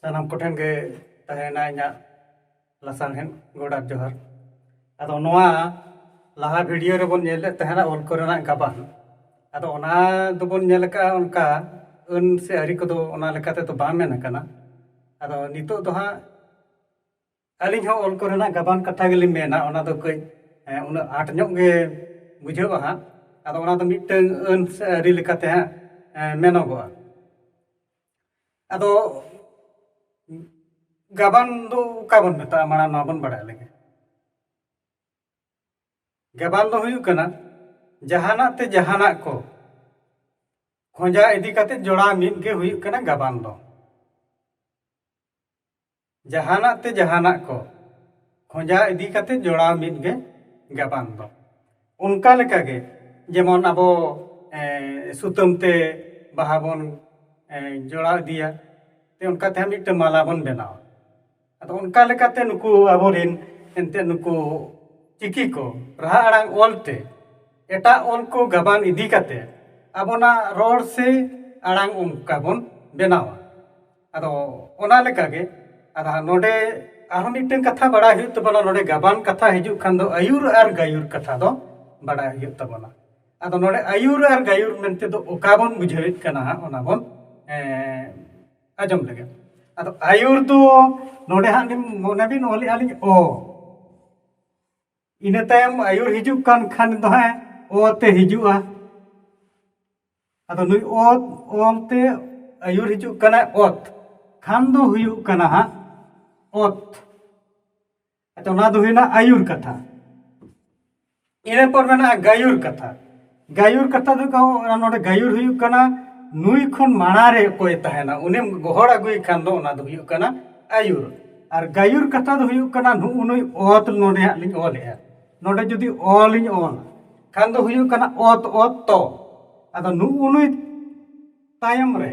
ᱥᱟᱱᱟᱢ ᱠᱚᱴᱷᱮᱱ ᱜᱮ ᱛᱟᱦᱮᱱᱟ ᱤᱧᱟᱹᱜ ᱞᱟᱥᱟᱬᱦᱮᱫ ᱜᱚᱰᱟ ᱡᱚᱦᱟᱨ ᱟᱫᱚ ᱱᱚᱣᱟ ᱞᱟᱦᱟ ᱵᱷᱤᱰᱤᱭᱳ ᱨᱮᱵᱚᱱ ᱧᱮᱞᱮᱫ ᱛᱟᱦᱮᱱᱟ ᱚᱞ ᱠᱚᱨᱮᱱᱟᱜ ᱜᱟᱵᱟᱱ ᱟᱫᱚ ᱚᱱᱟ ᱫᱚᱵᱚᱱ ᱧᱮᱞ ᱟᱠᱟᱫᱼᱟ ᱚᱱᱠᱟ ᱟᱹᱱ ᱥᱮ ᱟᱹᱨᱤ ᱠᱚᱫᱚ ᱚᱱᱟ ᱞᱮᱠᱟ ᱛᱮᱫᱚ ᱵᱟᱝ ᱢᱮᱱ ᱟᱠᱟᱱᱟ ᱟᱫᱚ ᱱᱤᱛᱳᱜ ᱫᱚ ᱦᱟᱸᱜ ᱟᱹᱞᱤᱧ ᱦᱚᱸ ᱚᱞ ᱠᱚᱨᱮᱱᱟᱜ ᱜᱟᱵᱟᱱ ᱠᱟᱛᱷᱟ ᱜᱮᱞᱤᱧ ᱢᱮᱱᱟ ᱚᱱᱟ ᱫᱚ ᱠᱟᱹᱡ ᱩᱱᱟᱹᱜ ᱟᱸᱴ ᱧᱚᱜ ᱜᱮ ᱵᱩᱡᱷᱟᱹᱜᱼᱟ ᱦᱟᱸᱜ ᱟᱫᱚ ᱚᱱᱟ ᱫᱚ ᱢᱤᱫᱴᱟᱹᱝ ᱟᱹᱱ ᱥᱮ ᱟᱹᱨᱤ ᱞᱮᱠᱟᱛᱮ ᱦᱟᱸᱜ ᱢᱮᱱᱚᱜᱚᱜᱼᱟ ᱟᱫᱚ ᱜᱟᱵᱟᱱ ᱫᱚ ᱚᱠᱟ ᱵᱚᱱ ᱢᱮᱛᱟᱜᱼᱟ ᱢᱟᱲᱟᱝ ᱱᱚᱣᱟ ᱵᱚᱱ ᱵᱟᱲᱟᱭ ᱞᱮᱜᱮ ᱜᱟᱵᱟᱱ ᱫᱚ ᱦᱩᱭᱩᱜ ᱠᱟᱱᱟ ᱡᱟᱦᱟᱱᱟᱜ ᱛᱮ ᱡᱟᱦᱟᱱᱟᱜ ᱠᱚ ᱠᱷᱚᱸᱡᱟ ᱤᱫᱤ ᱠᱟᱛᱮ ᱡᱚᱲᱟᱣ ᱢᱤᱫ ᱜᱮ ᱦᱩᱭᱩᱜ ᱠᱟᱱᱟ ᱜᱟᱵᱟᱱ ᱫᱚ ᱡᱟᱦᱟᱱᱟᱜ ᱛᱮ ᱡᱟᱦᱟᱱᱟᱜ ᱠᱚ ᱠᱷᱚᱸᱡᱟ ᱤᱫᱤ ᱠᱟᱛᱮ ᱡᱚᱲᱟᱣ ᱢᱤᱫ ᱜᱮ ᱜᱟᱵᱟᱱ ᱫᱚ ᱚᱱᱠᱟ ᱞᱮᱠᱟ ᱜᱮ ᱡᱮᱢᱚᱱ ᱟᱵᱚ ᱥᱩᱛᱟᱹᱢ ᱛᱮ ᱵᱟᱦᱟ ᱵᱚᱱ ᱡᱚᱲᱟᱣ ᱤᱫᱤᱭᱟ ᱚᱱᱠᱟ ᱛᱮᱦᱚᱸ ᱢᱤᱫᱴᱮᱱ ᱢᱟᱞᱟ ᱵᱚᱱ ᱵᱮᱱᱟᱣᱟ ᱟᱫᱚ ᱚᱱᱠᱟ ᱞᱮᱠᱟᱛᱮ ᱱᱩᱠᱩ ᱟᱵᱚ ᱨᱮᱱ ᱮᱱᱛᱮᱫ ᱱᱩᱠᱩ ᱪᱤᱠᱤ ᱠᱚ ᱨᱟᱦᱟ ᱟᱲᱟᱝ ᱚᱞ ᱛᱮ ᱮᱴᱟᱜ ᱚᱞ ᱠᱚ ᱜᱟᱵᱟᱱ ᱤᱫᱤ ᱠᱟᱛᱮ ᱟᱵᱚᱱᱟᱜ ᱨᱚᱲ ᱥᱮ ᱟᱲᱟᱝ ᱚᱱᱠᱟ ᱵᱚᱱ ᱵᱮᱱᱟᱣᱟ ᱟᱫᱚ ᱚᱱᱟ ᱞᱮᱠᱟ ᱜᱮ ᱟᱫᱚ ᱦᱟᱸᱜ ᱱᱚᱰᱮ ᱟᱨᱦᱚᱸ ᱢᱤᱫᱴᱟᱝ ᱠᱟᱛᱷᱟ ᱵᱟᱲᱟᱭ ᱦᱩᱭᱩᱜ ᱛᱟᱵᱚᱱᱟ ᱱᱚᱰᱮ ᱜᱟᱵᱟᱱ ᱠᱟᱛᱷᱟ ᱦᱤᱡᱩᱜ ᱠᱷᱟᱱ ᱫᱚ ᱟᱹᱭᱩᱨ ᱟᱨ ᱜᱟᱹᱭᱩᱨ ᱠᱟᱛᱷᱟ ᱫᱚ ᱵᱟᱲᱟᱭ ᱦᱩᱭᱩᱜ ᱛᱟᱵᱚᱱᱟ ᱟᱫᱚ ᱱᱚᱰᱮ ᱟᱹᱭᱩᱨ ᱟᱨ ᱜᱟᱹᱭᱩᱨ ᱢᱮᱱᱛᱮ ᱫᱚ ᱚᱠᱟ ᱵᱚᱱ ᱵᱩᱡᱷᱟᱹᱣᱮᱫ ᱠᱟᱱᱟ ᱦᱟᱸᱜ ᱚᱱᱟ ᱵᱚᱱ ᱟᱸᱡᱚᱢ ᱞᱮᱜᱮ ᱟᱫᱚ ᱟᱹᱭᱩᱨ ᱫᱚ ᱱᱚᱰᱮ ᱦᱟᱸᱜ ᱞᱤᱧ ᱢᱚᱱᱮ ᱵᱤᱱ ᱚᱞᱮᱜᱼᱟ ᱞᱤᱧ ᱚ ᱤᱱᱟᱹ ᱛᱟᱭᱚᱢ ᱟᱹᱭᱩᱨ ᱦᱤᱡᱩᱜ ᱠᱟᱱ ᱠᱷᱟᱱ ᱫᱚ ᱦᱟᱸᱜ ᱚ ᱛᱮ ᱦᱤᱡᱩᱜᱼᱟ ᱟᱫᱚ ᱱᱩᱭ ᱚ ᱚᱞ ᱛᱮ ᱟᱹᱭᱩᱨ ᱦᱤᱡᱩᱜ ᱠᱟᱱᱟ ᱚᱛ ᱠᱷᱟᱱ ᱫᱚ ᱦᱩᱭᱩᱜ ᱠᱟᱱᱟ ᱦᱟᱸᱜ ᱚᱛ ᱟᱪᱪᱷᱟ ᱚᱱᱟ ᱫᱚ ᱦᱩᱭᱱᱟ ᱟᱹᱭᱩᱨ ᱠᱟᱛᱷᱟ ᱤᱱᱟᱹ ᱯᱚᱨ ᱢᱮᱱᱟᱜᱼᱟ ᱜᱟᱹᱭᱩᱨ ᱠᱟᱛᱷᱟ ᱜᱟᱭᱩᱨ ᱠᱟᱛᱷᱟ ᱫᱚ ᱚᱱᱟ ᱱᱚᱰᱮ ᱜᱟᱭᱩᱨ ᱦᱩᱭᱩᱜ ᱠᱟᱱᱟ ᱱᱩᱭ ᱠᱷᱚᱱ ᱢᱟᱲᱟᱝ ᱨᱮ ᱚᱠᱚᱭ ᱛᱟᱦᱮᱱᱟ ᱩᱱᱤᱢ ᱜᱚᱦᱚᱲ ᱟᱹᱜᱩᱭ ᱠᱷᱟᱱ ᱫᱚ ᱚᱱᱟ ᱫᱚ ᱦᱩᱭᱩᱜ ᱠᱟᱱᱟ ᱟᱹᱭᱩᱨ ᱟᱨ ᱜᱟᱭᱩᱨ ᱠᱟᱛᱷᱟ ᱫᱚ ᱦᱩᱭᱩᱜ ᱠᱟᱱᱟ ᱱᱩᱜᱼᱩ ᱱᱩᱭ ᱚᱛ ᱱᱚᱰᱮ ᱦᱟᱸᱜ ᱞᱤᱧ ᱚᱞᱮᱜᱼᱟ ᱱᱚᱰᱮ ᱡᱩᱫᱤ ᱚᱞ ᱤᱧ ᱚᱞᱟ ᱠᱷᱟᱱ ᱫᱚ ᱦᱩᱭᱩᱜ ᱠᱟᱱᱟ ᱚᱛ ᱚᱛ ᱛᱚ ᱟᱫᱚ ᱱᱩᱜᱼᱩ ᱱᱩᱭ ᱛᱟᱭᱚᱢ ᱨᱮ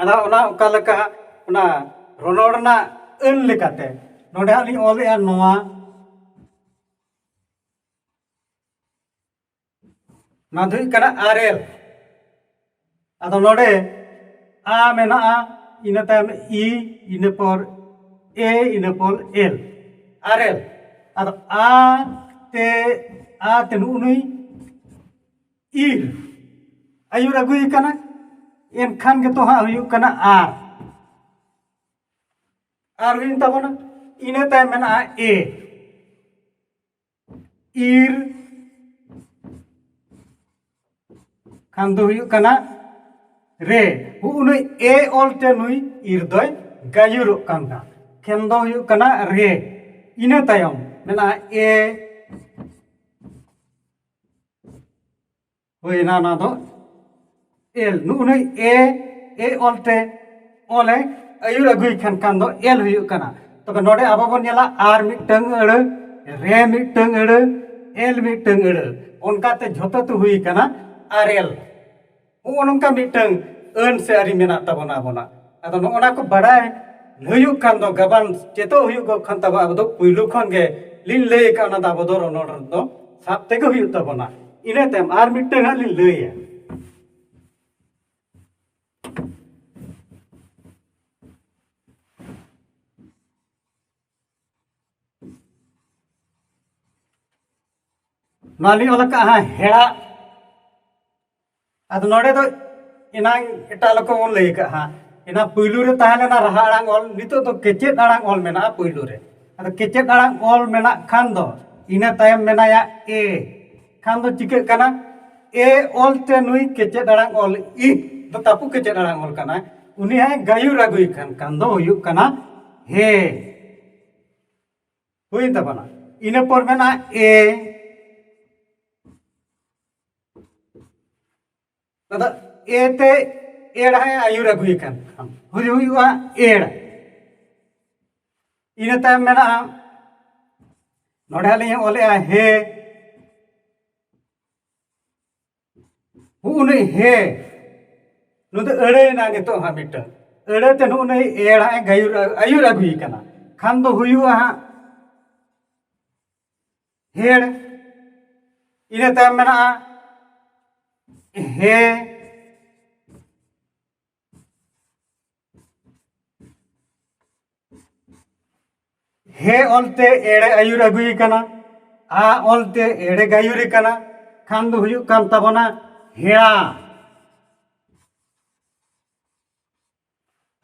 ᱟᱫᱚ ᱚᱱᱟ ᱚᱠᱟ ᱞᱮᱠᱟ ᱚᱱᱟ ᱨᱚᱱᱚᱲ ᱨᱮᱱᱟᱜ ᱟᱹᱱ ᱞᱮᱠᱟᱛᱮ ᱱᱚᱰᱮ ᱦᱟᱸᱜ ᱞᱤᱧ ᱚᱞᱮᱜᱼᱟ ᱱᱚᱣᱟ ᱱᱚᱣᱟ ᱫᱚ ᱦᱩᱭᱩᱜ ᱠᱟᱱᱟ ᱟᱨᱮᱞ ᱟᱫᱚ ᱱᱚᱰᱮ ᱟ ᱢᱮᱱᱟᱜᱼᱟ ᱤᱱᱟᱹ ᱛᱟᱭᱚᱢ ᱤ ᱤᱱᱟᱹ ᱯᱚᱨ ᱮ ᱤᱱᱟᱹ ᱯᱚᱨ ᱮᱞ ᱟᱨᱮᱞ ᱟᱫᱚ ᱟ ᱛᱮ ᱟ ᱛᱮ ᱱᱩᱜᱼᱩ ᱱᱩᱭ ᱤᱨ ᱟᱹᱭᱩᱨ ᱟᱹᱜᱩᱭᱮ ᱠᱟᱱᱟ ᱮᱱᱠᱷᱟᱱ ᱜᱮᱛᱚ ᱦᱟᱸᱜ ᱦᱩᱭᱩᱜ ᱠᱟᱱᱟ ᱟᱨ ᱟᱨ ᱦᱩᱭᱮᱱ ᱛᱟᱵᱚᱱᱟ ᱤᱱᱟᱹ ᱛᱟᱭᱚᱢ ᱢᱮᱱᱟᱜᱼᱟ ᱮ ᱤᱨ ᱠᱷᱟᱱ ᱫᱚ ᱦᱩᱭᱩᱜ ᱠᱟᱱᱟ ᱨᱮ ᱩᱱᱩᱭ ᱮ ᱚᱞ ᱛᱮ ᱱᱩᱭ ᱤᱨ ᱫᱚᱭ ᱜᱟᱹᱭᱩᱨᱚᱜ ᱠᱟᱱᱟ ᱠᱷᱮᱱ ᱫᱚ ᱦᱩᱭᱩᱜ ᱠᱟᱱᱟ ᱨᱮ ᱤᱱᱟᱹ ᱛᱟᱭᱚᱢ ᱢᱮᱱᱟᱜᱼᱟ ᱮ ᱦᱩᱭᱱᱟ ᱚᱱᱟ ᱫᱚ ᱮᱞ ᱱᱩᱜᱼᱱᱩᱭ ᱮ ᱮ ᱚᱞ ᱛᱮ ᱚᱞ ᱮ ᱟᱹᱭᱩᱨ ᱟᱹᱜᱩᱭ ᱠᱷᱟᱱ ᱠᱷᱟᱱ ᱫᱚ ᱮᱞ ᱦᱩᱭᱩᱜ ᱠᱟᱱᱟ ᱛᱚᱵᱮ ᱱᱚᱰᱮ ᱟᱵᱚ ᱵᱚᱱ ᱧᱮᱞᱟ ᱟᱨ ᱢᱤᱫᱴᱟᱝ ᱟᱹᱲᱟᱹ ᱨᱮ ᱢᱤᱫᱴᱟᱝ ᱟᱹᱲᱟᱹ ᱮᱞ ᱢᱤᱫᱴᱟᱝ ᱟᱹᱲᱟᱹ ᱚᱱᱠᱟᱛᱮ ᱡᱷᱚᱛᱚ ᱛᱮ ᱦᱩᱭ ᱠᱟᱱᱟ ᱟᱨ ᱮᱞ ᱱᱚᱜᱼᱚ ᱱᱚᱝᱠᱟ ᱢᱤᱫᱴᱟᱝ ᱟᱹᱱ ᱥᱮ ᱟᱹᱨᱤ ᱢᱮᱱᱟᱜ ᱛᱟᱵᱚᱱᱟ ᱟᱵᱚᱱᱟᱜ ᱟᱫᱚ ᱱᱚᱜᱼᱚ ᱱᱟ ᱠᱚ ᱵᱟᱰᱟᱭ ᱦᱩᱭᱩᱜ ᱠᱷᱟᱱ ᱫᱚ ᱜᱟᱵᱟᱱ ᱪᱮᱫᱚᱜ ᱦᱩᱭᱩᱜ ᱠᱷᱟᱱ ᱛᱟᱵᱚ ᱟᱵᱚ ᱫᱚ ᱯᱩᱭᱞᱩ ᱠᱷᱚᱱ ᱜᱮ ᱞᱤᱧ ᱞᱟᱹᱭ ᱟᱠᱟᱫ ᱚᱱᱟ ᱫᱚ ᱟᱵᱚ ᱫᱚ ᱨᱚᱱᱚᱲ ᱨᱮᱫᱚ ᱥᱟᱵ ᱛᱮᱜᱮ ᱦᱩᱭᱩᱜ ᱛᱟᱵᱚᱱᱟ ᱤᱱᱟᱹ ᱛᱟᱭᱚᱢ ᱟᱨ ᱢᱤᱫᱴᱟᱝ ᱦᱟᱸᱜ ᱞᱤᱧ ᱞᱟᱹᱭᱟ ᱱᱚᱣᱟ ᱞᱤᱧ ᱚᱞ ᱟᱠᱟᱫᱼᱟ ᱦᱮᱲᱟ ᱟᱫᱚ ᱱᱚᱰᱮ ᱫᱚ ᱮᱱᱟᱝ ᱮᱴᱟᱜ ᱞᱮᱠᱟ ᱵᱚᱱ ᱞᱟᱹᱭ ᱟᱠᱟᱫᱼᱟ ᱮᱱᱟ ᱯᱩᱭᱞᱩ ᱨᱮ ᱛᱟᱦᱮᱸ ᱞᱮᱱᱟ ᱨᱟᱦᱟ ᱟᱲᱟᱝ ᱚᱞ ᱱᱤᱛᱚᱜ ᱫᱚ ᱠᱮᱪᱮᱫ ᱟᱲᱟᱝ ᱚᱞ ᱢᱮᱱᱟᱜᱼᱟ ᱯᱩᱭᱞᱩ ᱨᱮ ᱟᱫᱚ ᱠᱮᱪᱮᱫ ᱟᱲᱟᱝ ᱚᱞ ᱢᱮᱱᱟᱜ ᱠᱷᱟᱱ ᱫᱚ ᱤᱱᱟᱹ ᱛᱟᱭᱚᱢ ᱢᱮᱱᱟᱭᱟ ᱮ ᱠᱷᱟᱱ ᱫᱚ ᱪᱤᱠᱟᱹᱜ ᱠᱟᱱᱟ ᱮ ᱚᱞ ᱛᱮ ᱱᱩᱭ ᱠᱮᱪᱮᱫ ᱟᱲᱟᱝ ᱚᱞ ᱤ ᱫᱚ ᱛᱟᱹᱯᱩ ᱠᱮᱪᱮᱫ ᱟᱲᱟᱝ ᱚᱞ ᱠᱟᱱᱟᱭ ᱩᱱᱤ ᱦᱟᱸᱜ ᱜᱟᱹᱭᱩᱨ ᱟᱹᱜᱩᱭ ᱠᱷᱟᱱ ᱠᱷᱟᱱ ᱫᱚ ᱦᱩᱭᱩᱜ ᱠᱟᱱᱟ ᱦᱮ ᱦᱩᱭᱮᱱ ᱛᱟᱵᱚᱱᱟ ᱤᱱᱟᱹ ᱯᱚᱨ ᱢᱮᱱᱟᱜᱼᱟ ᱮ ᱟᱫᱚ ᱮ ᱛᱮ ᱮᱲ ᱦᱟᱸᱜ ᱟᱹᱭᱩᱨ ᱟᱹᱜᱩᱭᱮ ᱠᱟᱱ ᱦᱩᱭ ᱦᱩᱭᱩᱜᱼᱟ ᱮᱲ ᱤᱱᱟᱹ ᱛᱟᱭᱚᱢ ᱢᱮᱱᱟᱜᱼᱟ ᱱᱚᱰᱮ ᱦᱟᱸᱜ ᱞᱤᱧ ᱚᱞᱮᱜᱼᱟ ᱦᱮ ᱦᱩᱜ ᱩᱱᱤ ᱦᱮ ᱱᱩᱭ ᱫᱚ ᱟᱹᱲᱟᱹᱭᱮᱱᱟ ᱱᱤᱛᱚᱜ ᱦᱟᱸᱜ ᱢᱤᱫᱴᱟᱝ ᱟᱹᱲᱟᱹ ᱛᱮ ᱱᱩᱜ ᱩᱱᱤ ᱮᱲ ᱦᱟᱸᱜ ᱜᱟᱹᱭᱩᱨ ᱟᱹᱭᱩᱨ ᱟᱹᱜᱩᱭᱮ ᱠᱟᱱᱟ ᱠᱷᱟᱱ ᱫᱚ ᱦᱩᱭᱩᱜᱼᱟ ᱦᱟᱸᱜ ᱦᱮᱲ ᱤᱱᱟᱹ ᱛᱟᱭᱚᱢ ᱢᱮᱱᱟᱜᱼᱟ ᱦᱮ ᱦᱮ ᱚᱞᱛᱮ ᱮᱲᱮ ᱟᱹᱭᱩᱨ ᱟᱹᱜᱩᱭ ᱠᱟᱱᱟ ᱟ ᱚᱞᱛᱮ ᱮᱲᱮ ᱜᱟᱹᱭᱩᱨ ᱠᱟᱱᱟ ᱠᱷᱟᱱ ᱫᱚ ᱦᱩᱭᱩᱜ ᱠᱟᱱ ᱛᱟᱵᱚᱱᱟ ᱦᱮᱲᱟ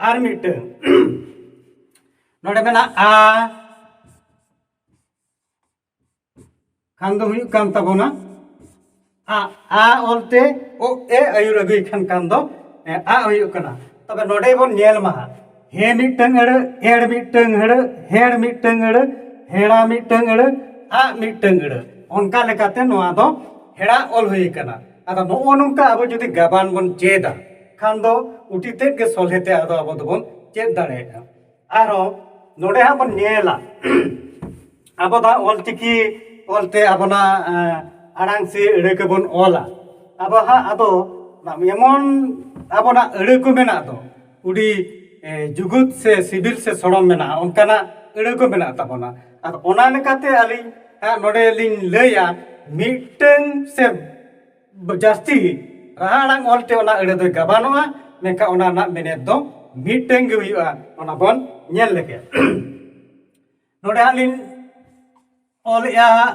ᱟᱨ ᱢᱤᱫᱴᱟᱝ ᱱᱚᱰᱮ ᱢᱮᱱᱟᱜ ᱟ ᱠᱷᱟᱱ ᱫᱚ ᱦᱩᱭᱩᱜ ᱠᱟᱱ ᱛᱟᱵᱚᱱᱟ ᱟ ᱟ ᱚᱞᱛᱮ ᱚ ᱮ ᱟᱹᱭᱩᱨ ᱟᱹᱜᱩᱭ ᱠᱷᱟᱱ ᱠᱟᱱ ᱫᱚ ᱟ ᱦᱩᱭᱩᱜ ᱠᱟᱱᱟ ᱛᱚᱵᱮ ᱱᱚᱰᱮ ᱵᱚᱱ ᱧᱮᱞ ᱢᱟ ᱦᱮ ᱢᱤᱫᱴᱟᱝ ᱟᱹᱲᱟᱹ ᱮᱲ ᱢᱤᱫᱴᱟᱝ ᱟᱹᱲᱟᱹ ᱦᱮᱲ ᱢᱤᱫᱴᱟᱝ ᱟᱹᱲᱟᱹ ᱦᱮᱲᱟ ᱢᱤᱫᱴᱟᱝ ᱟᱹᱲᱟᱹ ᱟ ᱢᱤᱫᱴᱟᱝ ᱟᱹᱲᱟᱹ ᱚᱱᱠᱟ ᱞᱮᱠᱟᱛᱮ ᱱᱚᱣᱟ ᱫᱚ ᱦᱮᱲᱟ ᱚᱞ ᱦᱩᱭ ᱠᱟᱱᱟ ᱟᱫᱚ ᱱᱚᱜᱼᱚ ᱱᱚᱝᱠᱟ ᱟᱵᱚ ᱡᱩᱫᱤ ᱜᱟᱵᱟᱱ ᱵᱚᱱ ᱪᱮᱫᱟ ᱠᱷᱟᱱ ᱫᱚ ᱩᱴᱤ ᱛᱮᱫ ᱜᱮ ᱥᱚᱞᱦᱮ ᱛᱮ ᱟᱫᱚ ᱟᱵᱚ ᱫᱚᱵᱚᱱ ᱪᱮᱫ ᱫᱟᱲᱮᱭᱟᱜᱼᱟ ᱟᱨᱦᱚᱸ ᱱᱚᱰᱮ ᱦᱟᱸᱜ ᱵᱚᱱ ᱧᱮᱞᱟ ᱟᱵᱚ ᱫᱚ ᱦᱟᱸᱜ ᱚᱞᱪᱤᱠᱤ ᱚᱞᱛᱮ ᱟᱵᱚᱱᱟᱜ ᱟᱲᱟᱝ ᱥᱮ ᱟᱹᱲᱟᱹ ᱠᱚᱵᱚᱱ ᱚᱞᱟ ᱟᱵᱚ ᱦᱟᱸᱜ ᱟᱫᱚ ᱮᱢᱚᱱ ᱟᱵᱚᱱᱟᱜ ᱟᱹᱲᱟᱹ ᱠᱚ ᱢᱮᱱᱟᱜ ᱫᱚ ᱟᱹᱰᱤ ᱡᱩᱜᱩᱫ ᱥᱮ ᱥᱤᱵᱤᱞ ᱥᱮ ᱥᱚᱲᱚᱢ ᱢᱮᱱᱟᱜᱼᱟ ᱚᱱᱠᱟᱱᱟᱜ ᱟᱹᱲᱟᱹ ᱠᱚ ᱢᱮᱱᱟᱜ ᱛᱟᱵᱚᱱᱟ ᱟᱫᱚ ᱚᱱᱟ ᱞᱮᱠᱟᱛᱮ ᱟᱹᱞᱤᱧ ᱦᱟᱸᱜ ᱱᱚᱰᱮ ᱞᱤᱧ ᱞᱟᱹᱭᱟ ᱢᱤᱫᱴᱟᱹᱝ ᱥᱮ ᱡᱟᱹᱥᱛᱤ ᱨᱟᱦᱟ ᱟᱲᱟᱝ ᱚᱞᱛᱮ ᱚᱱᱟ ᱟᱹᱲᱟᱹ ᱫᱚ ᱜᱟᱵᱟᱱᱚᱜᱼᱟ ᱢᱮᱱᱠᱷᱟᱱ ᱚᱱᱟ ᱨᱮᱱᱟᱜ ᱢᱮᱱᱮᱛ ᱫᱚ ᱢᱤᱫᱴᱟᱝ ᱜᱮ ᱦᱩᱭᱩᱜᱼᱟ ᱚᱱᱟ ᱵᱚᱱ ᱧᱮᱞ ᱞᱮᱜᱮ ᱱᱚᱰᱮ ᱦᱟᱸᱜ ᱞᱤᱧ ᱚᱞᱮᱜᱼᱟ ᱦᱟᱸᱜ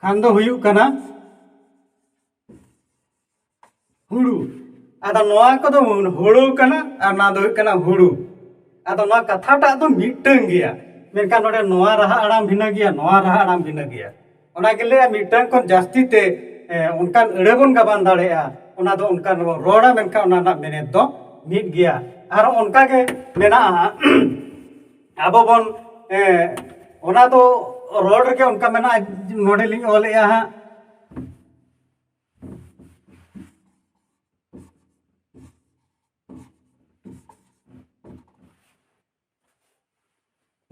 ᱠᱷᱟᱱ ᱫᱚ ᱦᱩᱭᱩᱜ ᱠᱟᱱᱟ ᱦᱩᱲᱩ ᱟᱫᱚ ᱱᱚᱣᱟ ᱠᱚᱫᱚ ᱦᱩᱲᱩ ᱠᱟᱱᱟ ᱟᱨ ᱱᱚᱣᱟ ᱫᱚ ᱦᱩᱭᱩᱜ ᱠᱟᱱᱟ ᱦᱩᱲᱩ ᱟᱫᱚ ᱱᱚᱣᱟ ᱠᱟᱛᱷᱟᱴᱟᱜ ᱫᱚ ᱢᱤᱫᱴᱟᱝ ᱜᱮᱭᱟ ᱢᱮᱱᱠᱷᱟᱱ ᱱᱚᱰᱮ ᱱᱚᱣᱟ ᱨᱟᱦᱟ ᱟᱲᱟᱝ ᱵᱷᱤᱱᱟᱹ ᱜᱮᱭᱟ ᱱᱚᱣᱟ ᱨᱟᱦᱟ ᱟᱲᱟᱝ ᱵᱷᱤᱱᱟᱹ ᱜᱮᱭᱟ ᱚᱱᱟ ᱜᱮ ᱞᱟᱹᱭᱟ ᱢᱤᱫᱴᱟᱝ ᱠᱷᱚᱱ ᱡᱟᱹᱥᱛᱤ ᱛᱮ ᱚᱱᱠᱟᱱ ᱟᱹᱲᱟᱹ ᱵᱚᱱ ᱜᱟᱵᱟᱱ ᱫᱟᱲᱮᱭᱟᱜᱼᱟ ᱚᱱᱟ ᱫᱚ ᱚᱱᱠᱟᱱ ᱵᱚᱱ ᱨᱚᱲᱟ ᱢᱮᱱᱠᱷᱟᱱ ᱚᱱᱟ ᱨᱮᱱᱟᱜ ᱢᱮᱱᱮᱛ ᱫᱚ ᱢᱤᱫ ᱜᱮᱭᱟ ᱟᱨ ᱚᱱᱠᱟ ᱜᱮ ᱢᱮᱱᱟᱜᱼᱟ ᱟᱵᱚ ᱵᱚᱱ ᱚᱱᱟ ᱫᱚ ᱨᱚᱲ ᱨᱮᱜᱮ ᱚᱱᱠᱟ ᱢᱮᱱᱟᱜᱼᱟ ᱱᱚᱰᱮ ᱞᱤᱧ ᱚᱞᱮᱜᱼᱟ ᱦᱟᱸᱜ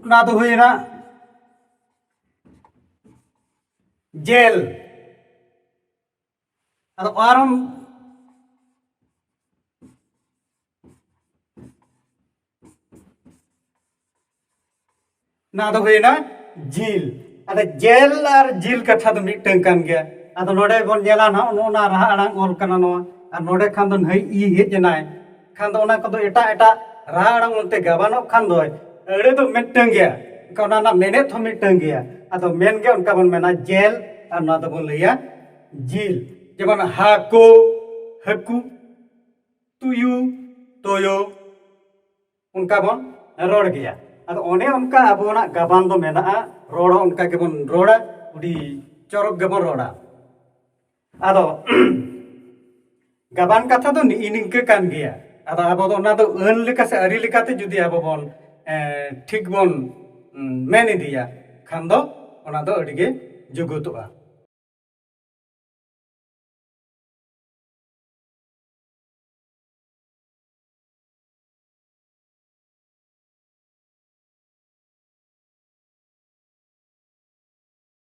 ᱚᱱᱟ ᱫᱚ ᱦᱩᱭᱱᱟ ᱡᱮᱞ ᱟᱫᱚ ᱟᱨᱚᱢ ᱱᱟ ᱫᱚ ᱦᱩᱭᱱᱟ ᱡᱤᱞ ᱟᱫᱚ ᱡᱮᱞ ᱟᱨ ᱡᱤᱞ ᱠᱟᱛᱷᱟ ᱫᱚ ᱢᱤᱫᱴᱟᱝ ᱠᱟᱱ ᱜᱮᱭᱟ ᱟᱫᱚ ᱱᱚᱰᱮ ᱵᱚᱱ ᱧᱮᱞᱟ ᱱᱟᱦᱟᱜ ᱱᱚᱜᱼᱚ ᱱᱟ ᱨᱟᱦᱟ ᱟᱲᱟᱝ ᱚᱞ ᱠᱟᱱᱟ ᱱᱚᱣᱟ ᱟᱨ ᱱᱚᱰᱮ ᱠᱷᱟᱱ ᱫᱚ ᱱᱟᱹᱭ ᱤ ᱦᱮᱡ ᱮᱱᱟᱭ ᱠᱷᱟᱱ ᱫᱚ ᱚᱱᱟ ᱠᱚᱫᱚ ᱮᱴᱟᱜ ᱮᱴᱟᱜ ᱨᱟᱦᱟ ᱟᱲᱟᱝ ᱚᱱᱛᱮ ᱜᱟᱵᱟᱱᱚᱜ ᱠᱷᱟᱱ ᱫᱚ ᱟᱹᱲᱟᱹ ᱫᱚ ᱢᱤᱫᱴᱟᱹᱝ ᱜᱮᱭᱟ ᱮᱱᱠᱷᱟᱱ ᱚᱱᱟ ᱨᱮᱱᱟᱜ ᱢᱮᱱᱮᱛ ᱦᱚᱸ ᱢᱤᱫᱴᱟᱹᱝ ᱜᱮᱭᱟ ᱟᱫᱚ ᱢᱮᱱ ᱜᱮ ᱚᱱᱠᱟ ᱵᱚᱱ ᱢᱮᱱᱟ ᱡᱮᱞ ᱟᱨ ᱱᱚᱣᱟ ᱫᱚᱵᱚᱱ ᱞᱟᱹᱭᱟ ᱡᱤᱞ ᱡᱮᱢᱚᱱ ᱦᱟᱠᱳ ᱦᱟᱹᱠᱩ ᱛᱩᱭᱩ ᱛᱳᱭᱳ ᱚᱱᱠᱟ ᱵᱚᱱ ᱨᱚᱲ ᱜᱮᱭᱟ ᱟᱫᱚ ᱚᱱᱮ ᱚᱱᱠᱟ ᱟᱵᱚᱱᱟᱜ ᱜᱟᱵᱟᱱ ᱫᱚ ᱢᱮᱱᱟᱜᱼᱟ ᱨᱚᱲ ᱦᱚᱸ ᱚᱱᱠᱟ ᱜᱮᱵᱚᱱ ᱨᱚᱲᱟ ᱟᱹᱰᱤ ᱪᱚᱨᱚᱠ ᱜᱮᱵᱚᱱ ᱨᱚᱲᱟ ᱟᱫᱚ ᱜᱟᱵᱟᱱ ᱠᱟᱛᱷᱟ ᱫᱚ ᱱᱤᱜ ᱱᱤᱝᱠᱟᱹ ᱠᱟᱱ ᱜᱮᱭᱟ ᱟᱫᱚ ᱟᱵᱚ ᱫᱚ ᱚᱱᱟ ᱫᱚ ᱟᱹᱱ ᱞᱮᱠᱟ ᱥᱮ ᱟᱹᱨᱤ ᱞᱮᱠᱟᱛᱮ ᱡᱩᱫᱤ ᱟᱵᱚ ᱵᱚᱱ ᱴᱷᱤᱠ ᱵᱚᱱ ᱢᱮᱱ ᱤᱫᱤᱭᱟ ᱠᱷᱟᱱ ᱫᱚ ᱚᱱᱟ ᱫᱚ ᱟᱹᱰᱤ ᱜᱮ ᱡᱩᱜᱩᱛᱚᱜᱼᱟ